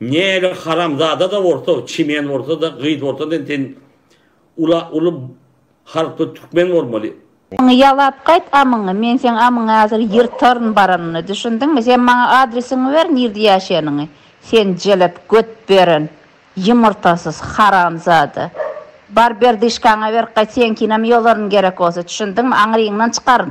Näle haramzada-da bolsa, çimen bolsa-da, gyz bolsa-da sen ula uly halkly türkmen bolmaly. Amyňy ýalap gaýt, amyňy. Men seň amyňy hazir ýyrtaryn baranyny, düşündiňmi? Sen maňa adresiňi ber, nirde ýaşaýanyňy. Sen jelep göt beren, ýumurtasyz haramzada. Bar berdyşkaňy ber gaýt, seňkinem ýolaryn gerek bolsa, düşündiňmi? Aňryňdan çykaryn.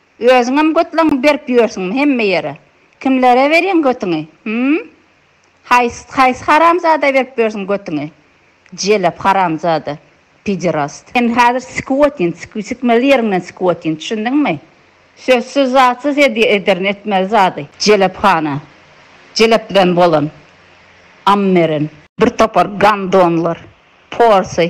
Özüňem götleňňi berip ýörsüňmi hemme ýere? Kimlere berýäň götüňi? Hümm? Haýsy haýsy haramzada berip ýörsüň götüňi? Jelep haramzada. Piderast. Sen häzir sikiw otyn, sikiw sikmeli ýeriňden sikiw otyn, düşündiňmi? Sözsüz zatsyz edýä ederin etmeli zady. Jelephana. Jelepden bolan. Ammeren. Bir topar gandonlar. Porsy.